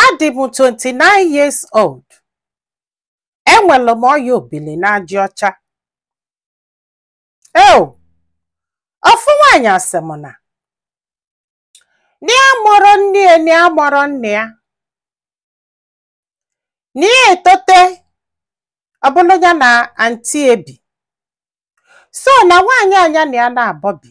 Adị m 29 years old. Enwere m ọya obili n'aja ọcha. Eo, ofu nwaanyị asị m na nya amarọ nne ya nya amarọ nna ya nya etote ọ bụlụ ya na anti ya ebi so na nwaanyị a nya na ya naabọ bi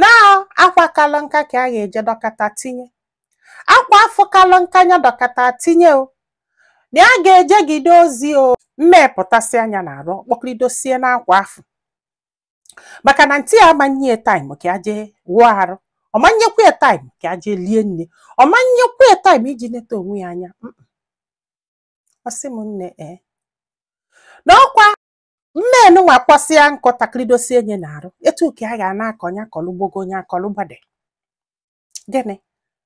na akwa kalụ nka ka a ga-eje dọkata tinye akwa afụ kalụ nka nya dọkata tinye o na ya ga-ejegide ozi o mmee pụtasịa nya n'arụ kpọkọridosie n'akwa afụ maka na anti ya ama nye taim ka ya jee wụọ arụ ọ ma nyekwa taim ka ya jee lie nni ọ ma nyekwa taim iji neta onwe ya anya Mm-mm. ọ sị m nne ee na ọkwa mmee nụnwa kpọsịa nkụ takịrịdosie nya n'arụ etu ka a ga na-akọ nya akọlụ gbago nya akọlụ gbada gịnị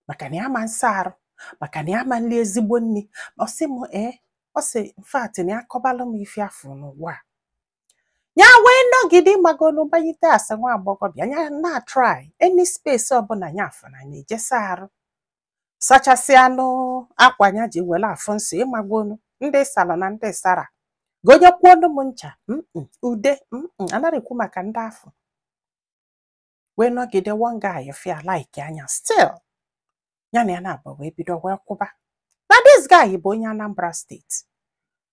maka na ya ama nsa arụ maka na ya ama nri ezigbo nri ọ sị m ee ọ sị in fact na ya kọbalụ m ife ya fụ n'ụwa a ya wee nọgide magonu banyite as a nwa agbọghọbịa ya na-atry any space ọbụla ya afụna nya eje saa arụ sachasịanụ akwa ya ji were afụ nsọ ị magonu ndị salụ na ndị sara gonyekwuonu m ncha mm, mm, ude mm, anarọ ekwu maka ndị afụ wee nọgide one guy bịa likea nya still ya na ya naabọ wee bido wee kwụba na this guy bụ onye Anambra steeti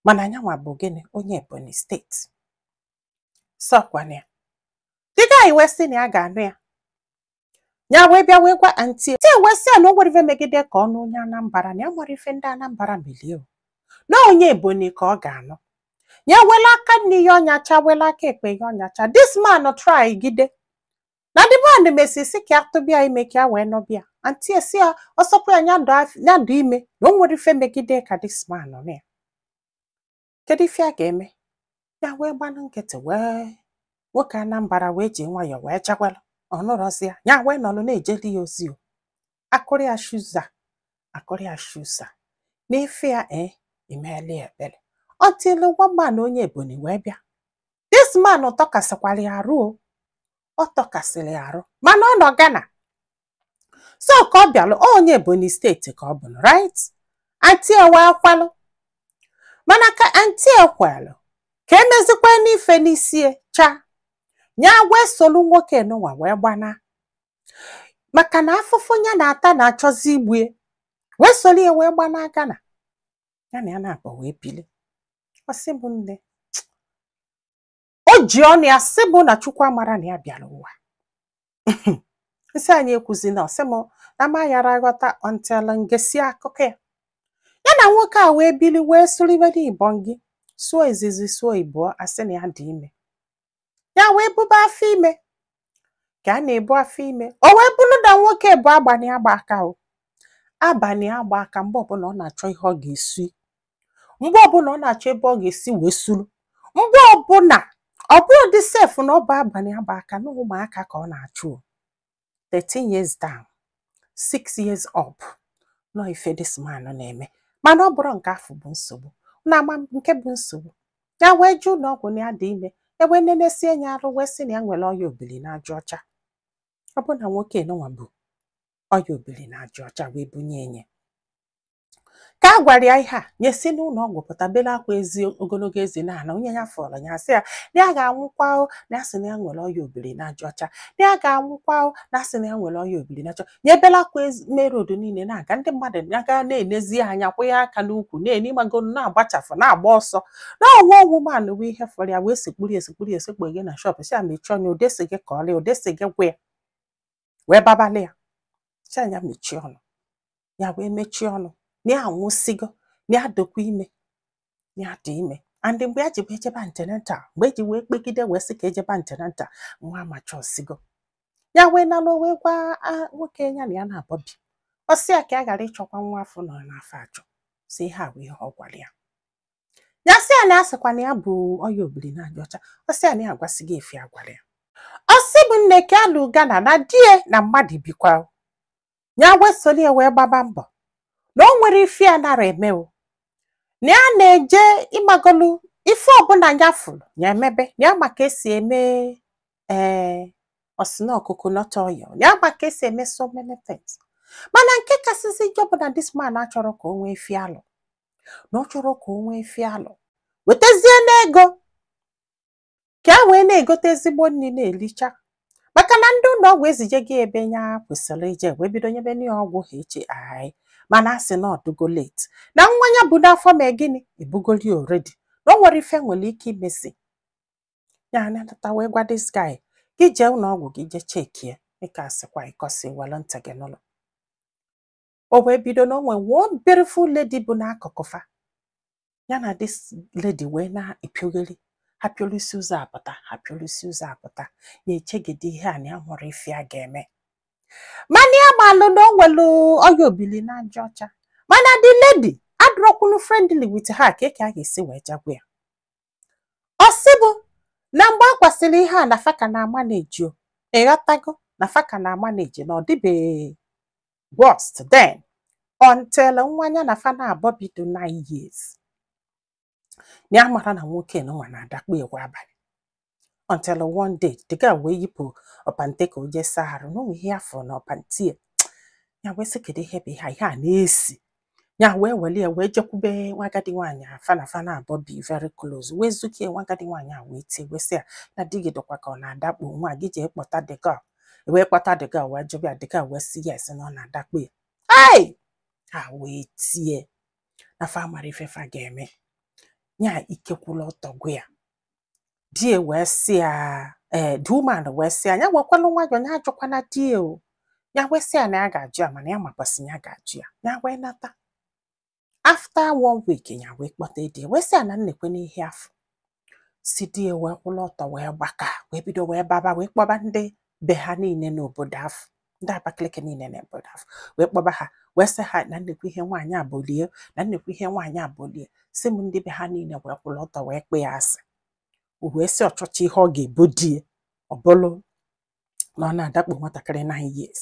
mana nyanwa bụ gịnị onye Ebonyi steeti so ọkwa na the guy wee sị na ya ga-anụ ya ya wee bịa wee gwa anti ya wee sị ya na o nwerọ ife megide ka ọ nụ onye anambara na ya nwere ife ndị anambara melụ ya o. na onye ebonyi ka ọ ga-anụ ya wela aka nni hie ọ nyacha wela aka ekpe hie ọ nyacha this man try gide na the man mesịa sị ka ya tụba ya ime ka ya wee nụba ya anti asị ya ọ sọkwa ya nya dị af- nya dị ime na o nwerọ ife megide ka this man nụ ya kedu ife a ga-eme ya wee gbanụ nkịtị wee nwoke Anambra wee ji nwayọọ wee chakwalụ ọ nụrọzi ya ya wee nọlụ na-ejeli ya ozi o akụrụ ya shuza akụrụ ya shuza n'ife ya e imeela ya ebele until one man onye ebonyi wee bịa this man tọkasịkwara ya arụ o ọ tọkasịrị ya arụ mana ọ nọ Ghana so ka ọ bịalụ ọ onye Ebonyi steeti ka ọ bụlụ right anti ya wee kwelụ mana ka anti ya kwelụ ka e mezikwanụ ife n'isi ya cha ya wee solu nwoke nụnwa wee gbana maka na afụfụ ya na-ata na-achọzi igbu ya wee solu ya wee gbana Ghana ya na ya naabọ wee bili ọ sị m nne o ji ọnụ ya sị bụ na chukwu amara na ya bịara ụwa m sị nya ekwuzina ọ sị m na ma yara aghọta until m gesịa akụkọ ya ya na nwoke a wee bili wee sụribe n'ibọn gị sụọ izizi sụọ ịbụọ a sị na ya dị ime ya wee buba afọ ime ka a na-ebu afọ ime o wee bụrụ na nwoke bụ abalị agba aka o abalị agba aka mgbe ọbụla ọ na-achọ ihe ọ ga-esi mgbe ọbụla ọ na-achọ ebe ọ ga-esi wee suru mgbe ọbụla ọ bụrọdị sef na ọ bụ abalị agba aka na ụmụaka ka ọ na-achụ o. 13 years down 6 years up nọ ife this man na-eme mana ọ bụrọ nke afụ bụ nsogbu na ama m nke bụ nsogbu ya wee jee ụlọ ọgwụ na ya dị ime e wee nenesie ya arụ wee sị na ya nwere ọya obili na aja ọcha ọ bụ na nwoke nụnwa bu ọya obili na aja ọcha wee bunye nya ka a gwara ya ihe a nya esi n'ụlọ ọgwụ pụta bela akwa ezi ogologo ezi na ala onye ya fụrụ ya sị ya na ya ga-anwụkwa o na ya sị na ya nwere ọya obili na aja ọcha na ya ga-anwụkwa o na ya sị na ya nwere ọya obili na aja ọcha ya ebela akwa main road niile na-aga ndị mmadụ na-aga na-enezi anya kwụ ya aka n'ukwu na-eni mago na-agbachafụ na-agba ọsọ na ọ one woman wee ihe fụrụ ya wee sekpuri esekpuri esekpu gị na shop sị ya mechie ọnụ onye sị gị kọọlụ onye sị gị gwa ya wee babalị ya sị nya mechie ọnụ ya wee mechie ọnụ na ya anwụsigo na ya dịkwa ime ya dị ime and mgbe ya ji wee jebe antenatal mgbe e ji wee kpegide wee sị ka e jebe antenatal nwa amacha ọsigo ya wee nalụ wee gwa ah, nwoke ya na ya naabọ bi ọ sị ya ka ya ghara ịchọkwa nwa afụ nọ n'afọ achọ sị ihe a bụ ihe ọ gwara ya ya sị ya na ya sịkwa na ya bụ ọya obiri na aja ọcha ọ sị ya na ya agwasịgo ife a gwara ya ọ sị bụ nne ka alụ gana na die na mmadụ bikwa ya wee soro ya wee gbaba mbọ na o nwerọ ife ya na-ara eme o na ya na-eje ị magolu ife ọbụla ya fụrụ ya emebe na ya ma ka e si eme ee ọ sị na coconut oil na ya ma ka e si eme so many things mana nke kasịzi njọ bụ na this man achọrọ ka o nwee ife alụ na ọ chọrọ ka o nwee ife alụ wetazie n'ego ka a wee na-egote ezigbo nri na-elicha maka na ndị ụlọ ọgwụ ezijego ebe ya kwesịrị ije wee bido nyebe nya ọgwụ HI mana a sị na ọ dịgo late na nwa ya bu n'afọ mee gịnị ebugoli already na o nwerọ ife e nwere ike imezi ya anata wee gwa this guy gị jee ụlọ ọgwụ gị jee chekie dịka a sịkwa ịkọsi were ntị gị nụlụ o wee bido na o nwe one beautiful lady bụ n'akụkụ fa ya na this lady wee na-epiogheri ha piolisi ụzọ apụta ha piolisi ụzọ apụta ya echegide ihe a na ya nwere ife a ga-eme mana ya malụ na o nwere ọya obili n'aja ọcha mana the lady adụrọkwunu friendly with her ka eke a ga-esi wee ja gwa ya ọ sị bụ na mgbe a kwasịrị ihe a na fa ka na-ama na-eji o ị ghọtago na fa ka na-ama na-eji na ọ dịbeghị worst then until nwa ya na fa naabọ bi dọ 9 years ya amarọ na nwoke nwa na-adakpo ya kwa abalị until one day the girl wee yipụọ pant ya ka o jee saa arụ na o nwe ihe ya fụ na pant ya ya wee sị kedu ihe bụ ihe a? ihe a na-esi ya wee were ya wee jekwube nwa agadi nwaanyị afụ na fa naabọ bi very close wee zukie nwa agadi nwaanyị a wee tie wee sị ya na di gị dịkwa ka ọ na-adakpo nwa gị jee kpọta the girl wee kpọta the girl wee jụba ya the girl wee sị yes na ọ na-adakpo ya ai ha wee tie na fa amarọ ife fa ga-eme ya ike kwụlụ ọtọ gwa ya di ya wee sị ya ee the woman wee sị ya ya wekwalụ nwayọọ ya ajụkwana di ya o ya wee sị ya na ya ga-ajụ ya mana ya makwasị na ya ga-ajụ ya ya wee nata after one week ya wee kpọta di ya wee sị ya na nekwenụ ihe ya fụsị di ya wee kwụrụ ọtọ wee gbaa aka wee bido wee baba wee kpọba ndị be ha niile n'obodo afụ ndị Abakaliki niile n'obodo afụ wee kpọba ha wee sị ha na nekwe ihe nwaanyị a bolu ya na nekwe ihe nwaanyị a bolu ya si m ndị be ha niile wee kwụrụ ọtọ wee kpee ya asị o wee sị ọ chọchị ihe ọ ga-ebo di ya ọ bụrụ na ọ na-adakpo nwatakịrị nine years